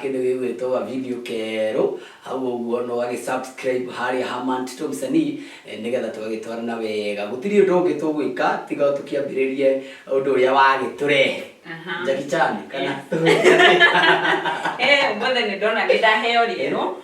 Kĩndũ gĩgwĩtwo ga video kerũ hau ũguo na ũgagĩ subscribe harĩa ha Mantito Msanii nĩgetha tũgagĩtwarana wega. Gũtirĩ ũndũ ũngĩ tũgwĩka tiga o tũkĩambĩrĩrie ũndũ ũrĩa wagĩtũrehe. Jackie Chan kana tũgĩte atĩa? He ũmũthĩ nĩ ndona nĩ ndaheo rĩero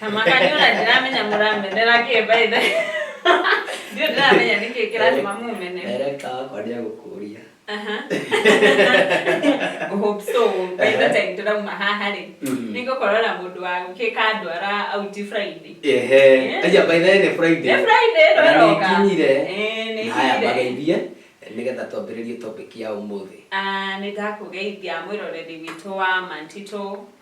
Makaniona ndiramenya mũramenera kĩ by the Ndio ndiramenya nĩkĩ kĩratuma mumene. Director wakwa nĩ egũkũria. Aha. Hope so. By the time ndĩrauma haha rĩ, Mhm. nĩngũkorwo na mũndũ wa gũkĩka ndwara out Friday. Ehe. Yes. Aja by the way nĩ Friday. Nĩ Friday ĩno Na ĩroka. nĩkinyire. Eh, nĩ Na haya ikinyire. mageithie nĩgetha twambĩrĩrie topic ya ũmũthĩ. Ah, nĩndakũgeithia mwĩroreri witũ wa Mantito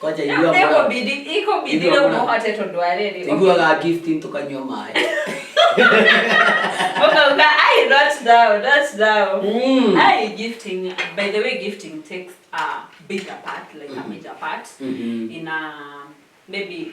kwanja Rĩu igua moyo. ikũbidi ikũbidi Igua rĩu moyo. mũhote tondũ wa rĩrĩ Iguaga gifting tũkanyua maĩ. ũkauga ai not now not now Mm. ai gifting by the way gifting takes a bigger part like a major part Mhm. in a maybe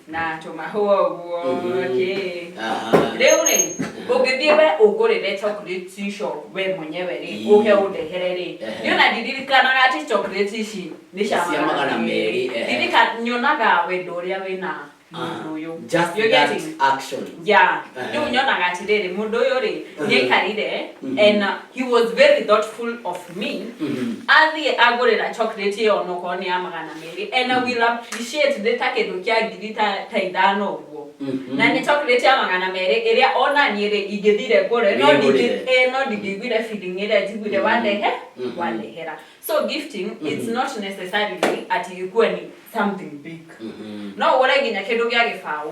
na tũmahũa ũguo Mhm. kĩ Aha. rĩu rĩ ũngĩthiĩ we ũngũrĩre chocolate icio we mwenyewe rĩ Ii. ũke ũndehere rĩ Ehe. niona ndiririkanaga atĩ chocolate ici nĩ cia Cia magana merĩ, ehe. ndirika nyonaga wendo ũrĩa wĩna mũndũ ũyũ Just You're that getting? action. ya Ehe. rĩu nyonaga atĩrĩrĩ mũndũ ũyũ rĩ Mhm. nĩaikarire Mhm. and uh, he was very thoughtful of me Mhm. athiĩ agũrĩra chocolate ĩyo onokorwo nĩ ya magana merĩ and I will appreciate nĩ ta kĩndũ kĩa ngiri ta ta ithano ũguo Mhm. na nĩ chocolate ya magana merĩ ĩrĩa ona niĩ rĩ ingĩthire ngũre no ndingĩ- Nĩngũrĩre. eh, no ndingĩiguire feeling ĩrĩa njiguire Mhm. wandehe Mhm. wandehera so gifting it's Mhm. not necessarily ati ikuwe ni something big Mhm. no ũgũre nginya kĩndũ gĩa gĩbaũ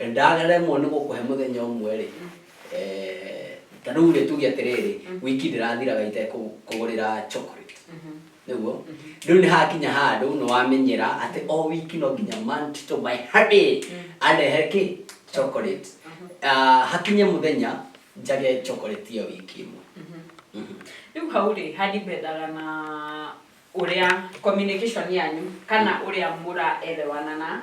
Ndaremwo nĩ gũkũhe mũthenya ũmwe-rĩ, ta rĩu-rĩ tuge atĩrĩrĩ, wiki ndĩrathiraga itekũgũrĩra chocolate, nĩguo? Rĩu nĩ hakinya handũ nĩ wamenyera atĩ o wiki no nginya man to my honey andehere kĩ? Chocolate. Hakinye mũthenya njage chocolate ĩyo wiki ĩmwe. Rĩu hau-rĩ, ha depend aga na ũrĩa communication yanyu kana ũrĩa mũra elewana na.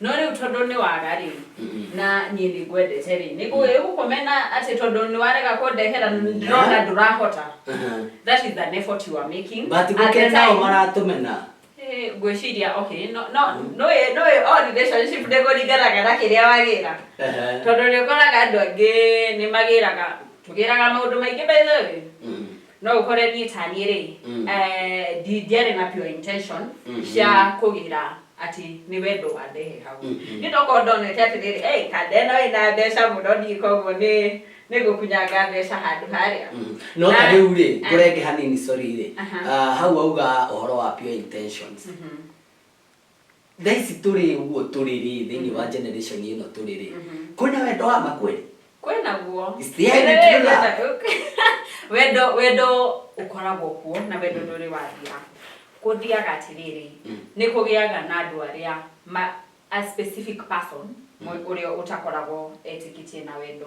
No rĩu tondũ nĩ waga-rĩ, na niĩ nĩ ngwendete-rĩ, nĩ ngũgĩ- gũkũmena atĩ tondũ nĩ warega kũndehera na nĩ ndĩrona ndũrahota. Aha. That is an effort you are making. But At the gũkĩrĩ nao time- maratũmena. Ĩĩ, ngwĩciria okay, no- no- nũĩ- nũĩ o relationship ndĩkũringanaga na kĩrĩa wagĩra. Ehe. Tondũ nĩ ũkoraga andũ angĩ nĩ magĩraga, tũgĩraga maũndũ maingĩ by the way. Mhm. No ũhore niĩ ta niĩ rĩ, Mm. eh, ndi- ndiarĩ na pure intention Mhm. cia kũgĩra atĩ nĩ wendo wandehe hau Mhm. nĩ ndokorwo ndonete atĩ rĩrĩ "Hey, kanda ĩno ĩna mbeca mũno niĩ koguo nĩ nĩ gũkunyanga mbeca handũ harĩa Mm. no ta Na- rĩu rĩ Ah. ngũrenge hanini sorry rĩ Aha. Ah, hau auga ũhoro wa pure intentions Mhm. thaa ici tå rä å guo tå rä rä thä inä wa generation ä no tå rä rä kwä na wendo wa ma kweli kwä naguo Is there any Rĩrĩ, true love? wenda- wendo wendo ũkoragwo kuo na wendo ndũrĩ wathira kũthiaga atĩrĩrĩ Mm. nĩ kũgĩaga na andũ arĩa ma, a specific person mwe- ũrĩa ũtakoragwo etĩkĩtie na wendo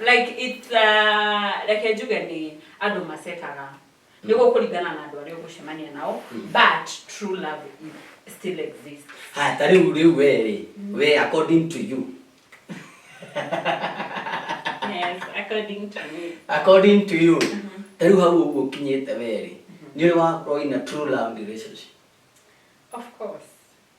Like it, uh, reke njuge nĩ andũ macekaga nĩ gũkũringana na andũ arĩa ũgũcemania nao but true love is- still exists haya ta rĩu rĩu we rĩ we according to you yes according to me according to you ta rĩu hau ũguo ũkinyĩte we rĩ nĩ ũrĩ wakorwo in a true love relationship of course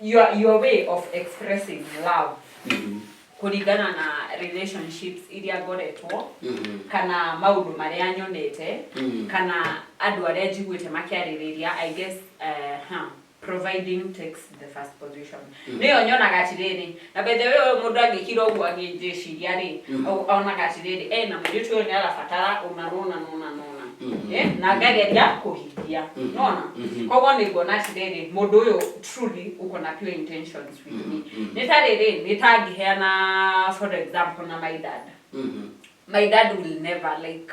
your, your way of expressing love Mhm. kũringana na relationships iria ngoretwo Mhm. kana maũndũ marĩa nyonete Mm. kana andũ arĩa njiguĩte makĩarĩrĩria i guess uh, huh, providing takes the first position nĩyo nyonaga atĩrĩrĩ Na by the way ũyũ mũndũ angĩkira ũguo agĩnjĩciria rĩ, o- onaga atĩrĩrĩ, eh, na mũirĩtu ũyũ nĩarabatara ũna na ũna na ũna na ũna. Eh, na ngageria kũhingia. Nĩwona? Koguo nĩnguona atĩrĩrĩ, mũndũ ũyũ truly uko na pure intentions with me. Nĩ ta rĩrĩ, nĩ ta angĩheana for example na my dad. My dad will never like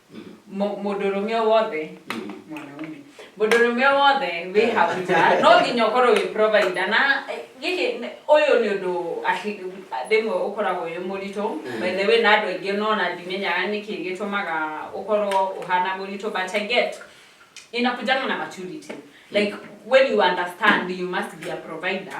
Mũ- mũndũ ũrũme o wothe mwanaume mũndũ ũrũme o wothe wĩ hau nja no nginya ũkorwo wĩ provider na eh, gĩkĩ nĩ- ũyũ nĩ ũndũ aki- rĩmwe ũkoragwo wĩ mũritũ by the way na andũ aingĩ no na ndimenyaga nĩkĩ gĩtũmaga ũkorwo ũhana mũritũ but I get inakujana na maturity like when you understand you must be a provider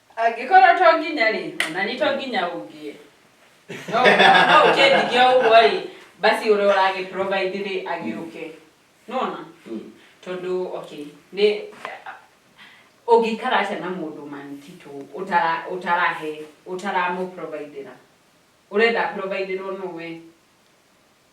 Angĩkorwo to nginya-rĩ, ona niĩ to nginya ũngie. No no ũkĩndigia ũguo-rĩ, basi ũrĩa ũragĩ-provide-rĩ agĩũke. Nĩwona? Tondũ okay, nĩ ũngĩikara atĩa na mũndũ man Tito ũtara ũtarahe ũtaramũ-provide-ĩra? Ũrenda a-provide-ĩrwo nũũ wee?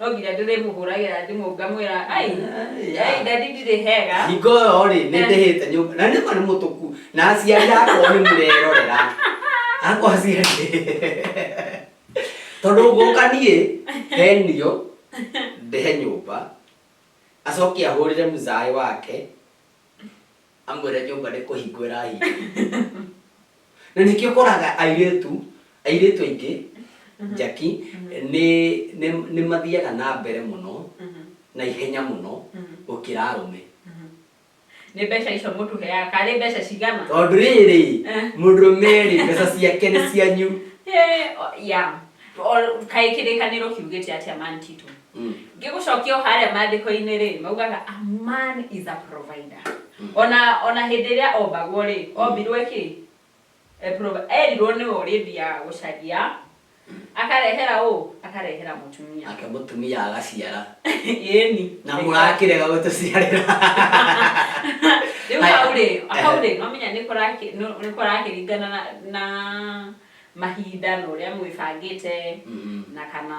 No nginya ndĩrĩmũhũragĩra thimũ ngamwĩra ai ai ndadi ndirĩ hega hingo ĩyo rĩ nĩ ndĩhĩte nyũmba na nĩma nĩ mũtũku na aciari akwa nĩ mũrerorera akwa aciari tondũ ngũka niĩ henio ndĩhe nyũmba acoke ahũrĩre mũzaĩ wake amwĩre nyũmba nĩ kũhingwo ĩrahingwo na nĩkĩo ũkoraga airĩtu airĩtu aingĩ njaki nĩ nĩ- nĩ mathiaga na mbere mũno na ihenya mũno gũkĩra arũme nĩ mbeca icio mũtũheaga karĩ mbeca cigana tondũ rĩrĩ Eh. mũndũrũme rĩ mbeca ciake nĩ cianyu Eh, o- ya O- kaĩ kĩrĩkanĩro kiugĩte atĩa mantitũ Mm. ngĩgũcokia o harĩa maandĩko-inĩ rĩ maugaga a man is a provider Mm. ona ona hĩndĩ ĩrĩa ombagwo rĩ ombirwo ĩkĩ E provi- erirwo nĩwe ũrĩthiaga gũcaria akarehera ũ akarehera mũtumia nake mũtumia agaciara ĩni na mũrakĩrega gũtũciarĩra rĩu Haya. hau rĩ hau rĩ no menya nĩ kũraki- nũ- nĩ kũrakĩringana na- na mahinda na ũrĩa mwĩbangĩte Mhm. na kana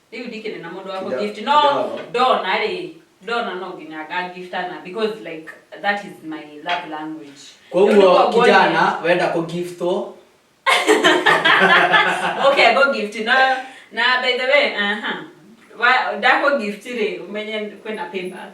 rĩu ndikĩrĩ na mũndũ wa Ndo- kũgift no ndo. ndona rĩ ndona no nginya ngagiftana because like that is my love language Rĩu nĩ koguo kwanguo kijana wenda kũgiftwo nĩ- okay go gift na na by the way aha Wa- ndakũ gift rĩ umenye kwĩna payback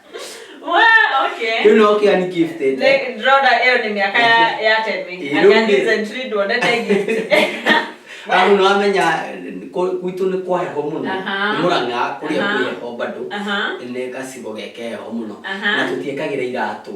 Wa, okay. Rĩu no kĩa ni gifted. Like, Rhoda, hiyo ni miaka ya- ya tething. Eh, Anga rudi. recently tuonete gift. Amu no amenya kũ- gwitũ nĩ kwa heho mũno. Aha. Nĩ Mũrang'a kũrĩa Aha. kwĩ heho bado. Aha. Nĩ gacigo geke heho mũno. Aha. Na tũtiekagĩra iratũ.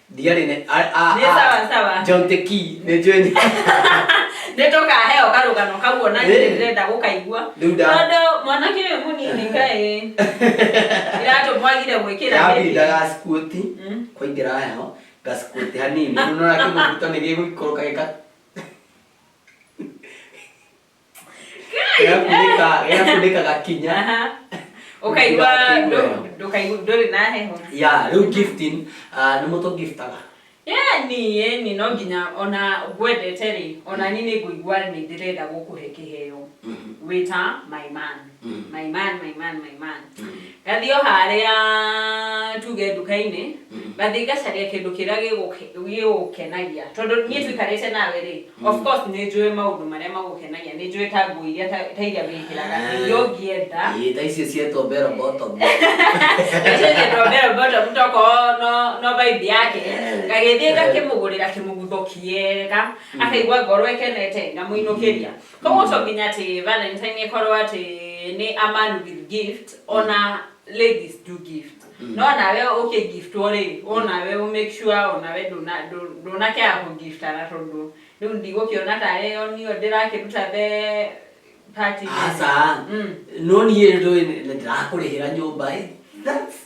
Ndiarĩ nĩ a a Nĩ sawa, sawa. a John the key nĩ njũĩ nĩ nä tå kaheo karå kau ona Ĩĩ. nä ndä gå kaigua Rĩu nda- tondå mwanake å yå må nini kaä iratå mwagire gwä kä ra yabinda gacikuti Mm. kwaingĩra heho gacikuti hanini nĩũrona kĩmũbuto nĩ gĩgũikũrũka gĩka Ĩgakunĩka ĩgakunĩka gakinya. Aha. Ũkaigua Ndũkaigua ndũ- heho. ndũkaigua ndũrĩ na heho. Ya, rĩu gifting ah, nĩ mũtũ giftaga. Ĩni ĩni no nginya ona ngwendete rĩ, ona niĩ nĩ ngũigua nĩ ndĩrenda gũkũhe kĩheo wĩ ta my man. Mm. my man my man my man Mm. ngathiĩ o harĩa tuge nduka-inĩ Mm. ngathiĩ ngacaria kĩndũ kĩrĩa gĩgũke- gĩgũkenagia tondũ niĩ tũikarĩte nawe rĩ of course nĩ njũĩ maũndũ marĩa magũkenagia nĩ njũĩ ta nguo iria ta ta iria wĩkĩraga Ah. iria ũngĩenda Ĩĩ, ta icio cietwo bero bottom tokorwo no no vibe yake Eh. ngagĩthiĩ ngakĩmũgũrĩra kĩmũgutho kĩega akaigua ngoro ĩkenete ngamũinũkĩria Kwoguo ũcio nginya atĩ Valentine ĩkorwo atĩ nĩ a man with gift ona ladies do gift no nawe ũkĩ giftwo rĩ onawe ũ make sure onawe ndũna ndũ- ndũnakĩaga kũ giftana tondũ rĩu ndigũkĩona tarĩ o niĩ ndĩrakĩruta the party aca Mm. no niĩ rĩ ndũĩ nĩ ndĩrakũrĩhĩra nyũmba ĩ That's-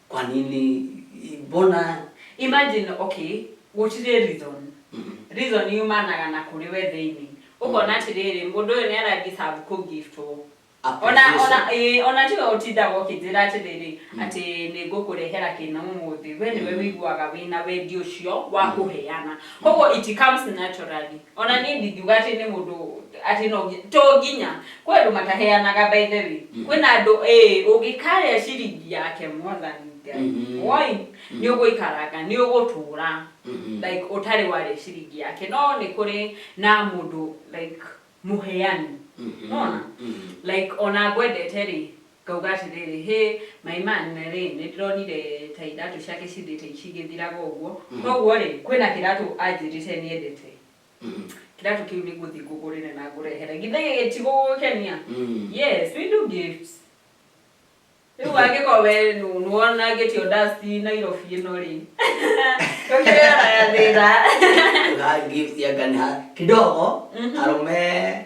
kwa nini mbona imagine okay gũtirĩ reason Mhm. reason yumanaga na kũrĩ we thĩinĩ ũkona atĩrĩrĩ mũndũ ũyũ nĩ arathiĩ sabu kũ gift ũũ ona Appreciation. ona ĩĩ, ona tiwe ũtindaga ũkĩnjĩra atĩrĩrĩ atĩ nĩ ngũkũrehera kĩna ũmũthĩ we nĩwe wĩiguaga wĩna wendi ũcio wa kũheana koguo it comes naturally O na niĩ ndingiuga atĩ nĩ mũndũ atĩ no nginya, to nginya, kwĩ andũ mataheanaga by the way, kwĩ na andũ ĩĩ ũngĩkarĩa ciringi yake mwathani Ngai, woi, nĩ ũgũikaranga, nĩ ũgũtũra like ũtarĩ warĩa ciringi yake, no nĩ kũrĩ na mũndũ like mũheani, nĩ wona, like o na ngwendete rĩ, Ngauga atĩrĩrĩ, Hĩ! Maĩ mane-rĩ, nĩndĩronire ta iratũ ciake cithiĩte cigĩthiraga ũguo, kwoguo-rĩ, kwĩ na kĩratũ anjĩrĩte nĩendete. Kĩratũ kĩu nĩngũthiĩ ngũgũrĩre na ngũrehere. Githĩ gĩkĩ ti gũgũkenia? Yes, we do gifts. Rĩu angĩkorwo we nĩwonangĩtio dust i Nairobi ĩno-rĩ, ndũkĩoyaga thĩna. Nĩ ũndũ wa gifts anga nĩ ha, kidogo, arũme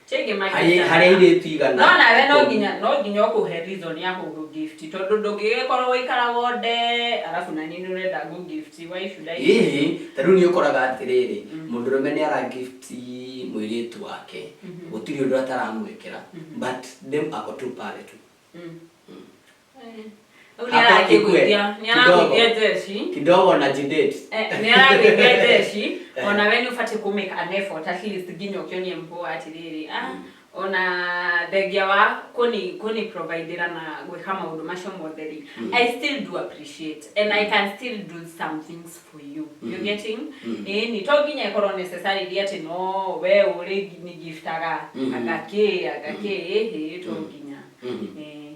Chenge my harĩ data. harĩ airĩtu igana No nawe no ikũmi. nginya no nginya ũkũhe reason ya kũgũ gift tondũ ndũngĩgĩkorwo ũikaraga ũnde arabu na niĩ nĩ ũrenda ngũ gift why should I Ĩhĩ, ta rĩu nĩ ũkoraga atĩrĩrĩ, mũndũrũme nĩ ara gift mũirĩtu wake, gũtirĩ ũndũ ataramwĩkĩra, but dem ako tu pale tu. Mm. Rĩu nĩaragĩgwĩtia nĩaragwĩtia jeshi kidogo na jidate Eh, nĩaragwĩtia jeshi Eh. ona we nĩ ũbatiĩ kũ make an effort at least nginya ũkĩonie mkuu atĩrĩrĩ ah, ona thengia wa kũni kũni providera na gwĩka maũndũ macio mothe rĩ i still do appreciate and i can still do some things for you you getting ĩni to nginya ĩkorwo necessarily atĩ no we ũrĩ nigiftaga agakĩ agakĩ ĩhĩ to nginya Eh.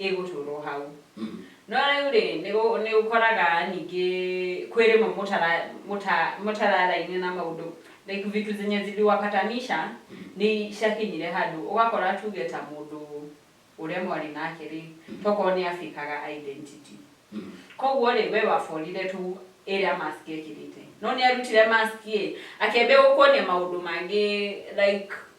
ĩgũtũrwo hau no rĩu rĩ nĩ ũkoraga ningĩ kwĩ rĩmwe mũtararaine na maũndũ like vitu zenye ziliwapatanisha nĩ ciakinyire handũ ũgakora tuge ta mũndũ ũrĩa mwarĩ nake rĩ tokorwo nĩ abĩkaga identity koguo rĩ we waborire tu ĩrĩa mask ekĩrĩte no nĩ arutire mask ĩ akĩambia gũkuonia maũndũ mangĩ like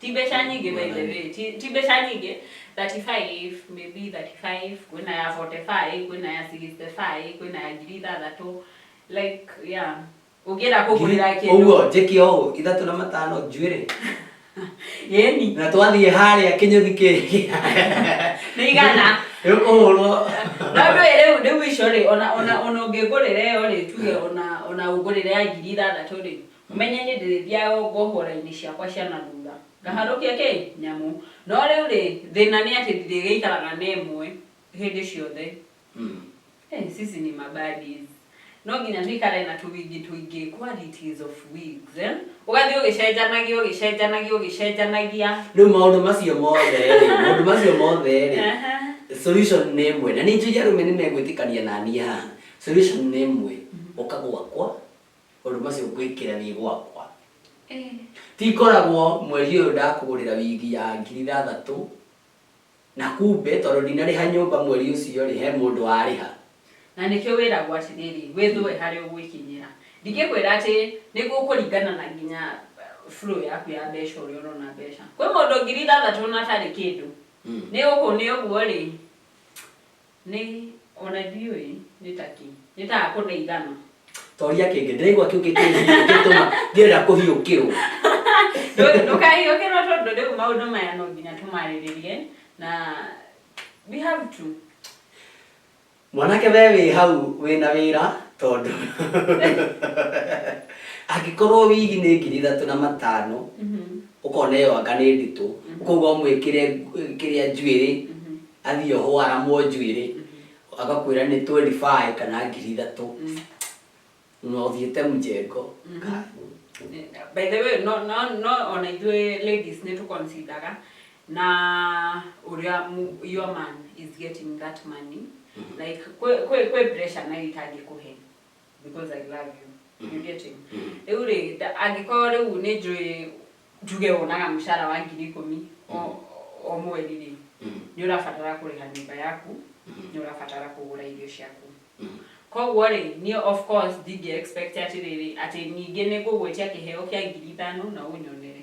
Ti mbeca nyingĩ by the way, ti ti mbeca nyingĩ 35 maybe 35 kwĩna ya 45 kwĩna ya 65 kwĩna ya ngiri ithathatũ like yeah ũngĩenda kũgũrĩra kĩndũ ũguo njĩke ũũ ithatũ na matano njuĩrĩ yeni na twathiĩ harĩa kĩnyũthi kĩngĩ nĩ igana gĩkũhũrwo no ndũĩ rĩu rĩu icio rĩ ona ona ona ũngĩgũrĩra ĩyo rĩ tuge ona ona ũgũrĩre ya ngiri ithathatũ rĩ Mũmenye nĩ ndĩrĩthiaga o ngohora-inĩ ciakwa cia na thutha, ngaharũkia kĩ? Nyamũ. No rĩu-rĩ, thĩna nĩ atĩ ndirĩgĩikaraga na ĩmwe hĩndĩ ciothe. Hey, sisi ni ma buddies. No nginya tũikare na tũwigi tũingĩ, qualities of wigs, eh? Ũgathiĩ ũgĩcenjanagia, ũgĩcenjanagia, ũgĩcenjanagia. Rĩu maũndũ macio mothe-rĩ, maũndũ macio mothe-rĩ, Ehe. solution nĩ ĩmwe. Na nĩ njũĩ arũme nĩ megwĩtĩkania na niĩ haha. Solution nĩ ĩmwe, ũka gwakwa. Maũndũ macio ngwĩkĩra nĩ gwakwa. Ti ngoragwo mweri ũyũ ndakũgũrĩra wigi ya ngiri ithathatũ, na kumbe tondũ ndinarĩha nyũmba mweri ũcio rĩ, he mũndũ warĩha. Na nĩkĩo wĩragwo atĩrĩrĩ, wĩthũe harĩa ũgwĩkinyĩra. Ndingĩkwĩra atĩ nĩ gũkũringana na nginya flow yaku ya mbeca ũrĩa ũrona mbeca. Kwĩ mũndũ ngiri ithathatũ na atarĩ kĩndũ. Nĩ ũguo nĩ ũguo rĩ. Nĩ, o na ndiũĩ, nĩ ta kĩ. Nĩ ta hakũ ndeithana. Toria kĩngĩ. Ndĩraigua kĩu gĩkĩtũma ndĩrenda kũhiũkĩrũo. Ndũkahiũkĩrũo tondũ rĩu maũndũ maya no nginya tũmarĩrĩrie, na we have to. Mwanake wee wĩ hau wĩ na wĩra tondũ angĩkorũo wigi nĩ ngiri ithatũ na matano, ũkona ĩyo anga nĩ nditũ, ũkauga ũmwĩkĩre kĩrĩa njuĩrĩ, Athiĩ ohwo aramwo njuĩrĩ agakwĩra nĩ twendi baĩ kana ngiri ithatũ na ũthiĩte mjengo kaĩ. By the way, no, no, no ona ithuĩ ladies nĩ tũ consideraga na ũrĩa mu- your man is getting that money like kwĩ kwĩ kwĩ pressure nayo itangĩkũhe because I love you. You get it? Rĩu rĩ, nda- angĩkorwo rĩu nĩ njũĩ njuge wonaga mũcara wa ngiri ikũmi o- o mweri rĩ, nĩ ũrabatara kũrĩha nyũmba yaku, nĩ ũrabatara kũgũra irio ciaku. Koguo rĩ, niĩ of course ndingĩ expect atĩrĩrĩ, atĩ ningĩ nĩ ngũgwĩtia kĩheo kĩa ngiri ithano na ũnyonere.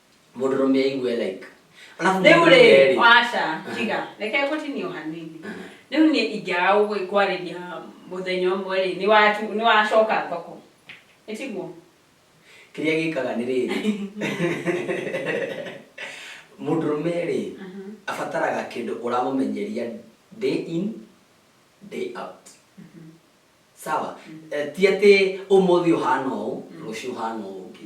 mũndũrũme aigue like Alafu rĩu mũndũrũme rĩ rĩ, waca tiga reke gũtinio hanini rĩu niĩ ingĩaga gũgĩ- kwarĩria mũthenya ũmwe rĩ nĩ watu- nĩ wacoka thoko nĩ tiguo kĩrĩa gĩkaga nĩ rĩrĩ mũndũrũme rĩ abataraga kĩndũ ũramũmenyeria day in day out sawa Eh, ti atĩ ũmũthĩ ũhana ũũ rũciũ ũhana ũũ ũngĩ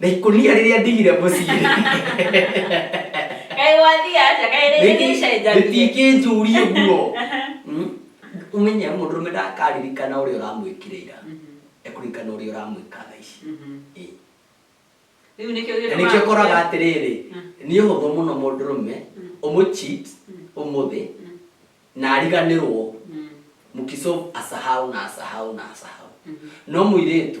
Na ikũnia rĩrĩa ndigire mũciĩ. Kaĩ wathiĩ aca, kaĩ rĩngĩ nĩ icenjanie. Rĩtingĩnjũria ũguo. Mm? Ũmenye mũndũrũme ndakaririkana ũrĩa ũramwĩkire ira. Ekũririkana ũrĩa ũramwĩka thaa ici. Mhm. Ĩ. Rĩu nĩkĩo Na gĩtũmaga nĩkĩo ũkoraga kũrĩa- atĩrĩrĩ, Mm. nĩ ũhũthũ mũno mũndũrũme ũmũcheat ũmũthĩ na ariganĩrwo Mm. mkisolve asahau na asahau na asahau. No mũirĩtu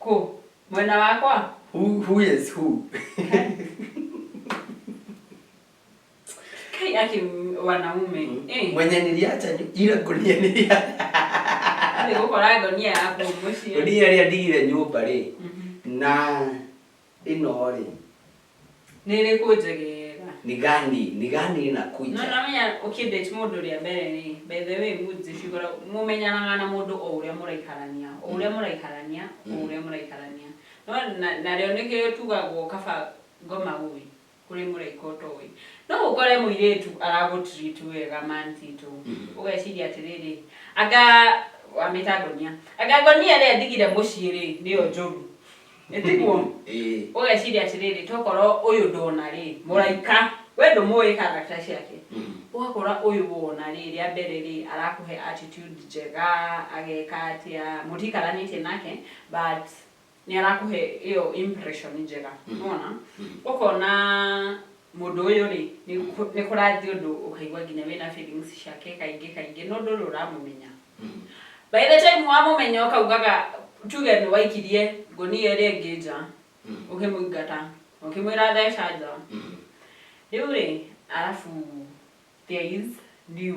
Kũ? Mwena wakwa? Who, who is who? Kai aki wanaume. Eh. Mwenye niliacha nyu- ile gunia nilia. Nĩ gũkora ngonia yaku mũciĩ. Gunia ĩrĩa ndigire nyũmba rĩ. Mhm. Na Ĩno-rĩ. Nĩ ĩrĩkũ njegega? Ni gani? Ni gani No inakuja? namenya ũkĩdate mũndũ rĩa mbere rĩ, by the way moods cikoragwo, mũmenyanaga na mũndũ o ũrĩa mũraikarania, o ũrĩa mũraikarania, o ũrĩa mũraikarania. No na narĩo nĩkĩo tugagwo kaba ngoma ũĩ. kũrĩ mũraika ũtoĩ. No ũkore mũirĩtu aragũtreat wega man Tito. Mhm. Ũgeciria atĩrĩrĩ, anga wamĩta ngonia. Anga ngonia ĩrĩa ĩndigire mũciĩ rĩ, nĩyo njũru. Ĩ tiguo? Ĩĩ. Ũgeciria atĩrĩrĩ, tokorwo ũyũ ndona rĩ, mũraika, we ndũmũĩ character ciake. Mhm. Ũgakora ũyũ wona rĩ, rĩa mbere rĩ, arakũhe attitude njega, ageka atĩa, mũtikaranĩtie nake, but nĩ arakũhe ĩyo impression njega Mhm. nona Mhm. ũkona mũndũ ũyũ rĩ nĩ kũ- nĩ kũrathiĩ ũndũ ũkaigua nginya wĩna feelings ciake kaingĩ kaingĩ no ndũrĩ ũramũmenya Mhm. by the time wamũmenya ũkaugaga tuge nĩ waikirie ngũnia ĩrĩa ĩngĩ nja Mhm. ũkĩmũingata ũkĩmwĩra theca nja Mhm. rĩu rĩ arabu there is new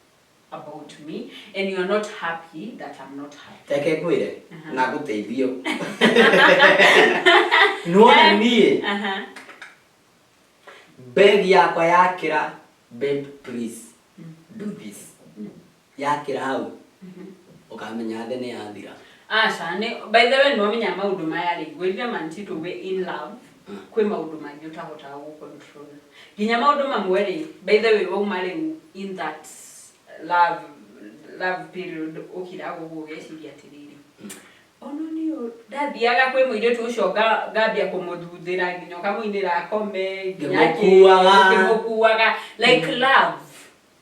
about me and you are not happy that I'm not happy. Reke ngwĩre Aha. na ngũteithio. Nĩwona Eh. niĩ Aha. bag yakwa yakĩra babe please do this. Yakĩra hau ũkamenya thĩ nĩ yathira. Aca, nĩ by the way nĩ wamenya maũndũ maya rĩ, ngwĩrire manti to we in love. Kwĩ maũndũ maingĩ ũtahotaga gũ control. Nginya maũndũ mamwe rĩ, by the way wauma rĩu in that love love period ũkiraga ũguo ũgeciria atĩrĩrĩ, ona niĩ ũũ, ndathiaga kwĩ mũirĩtu ũcio nga ngambia kũmũthuthĩra nginya ũkamũinĩra akome, nginya kĩ, Ngĩmũkuaga. ngĩmũkuaga, like love.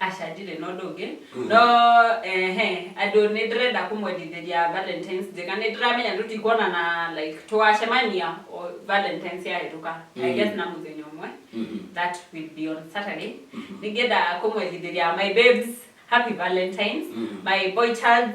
Aca ndirĩ na ũndũ ũngĩ no ehe andũ nĩ ndĩrenda kũmwendithĩria valentines njega nĩ ndĩramenya tũtikuonana like tũgacemania o valentines yahĩtũka I guess na mũthenya ũmwe that will be on Saturday nĩngĩenda kũmwendithĩria my babes happy valentines my boy child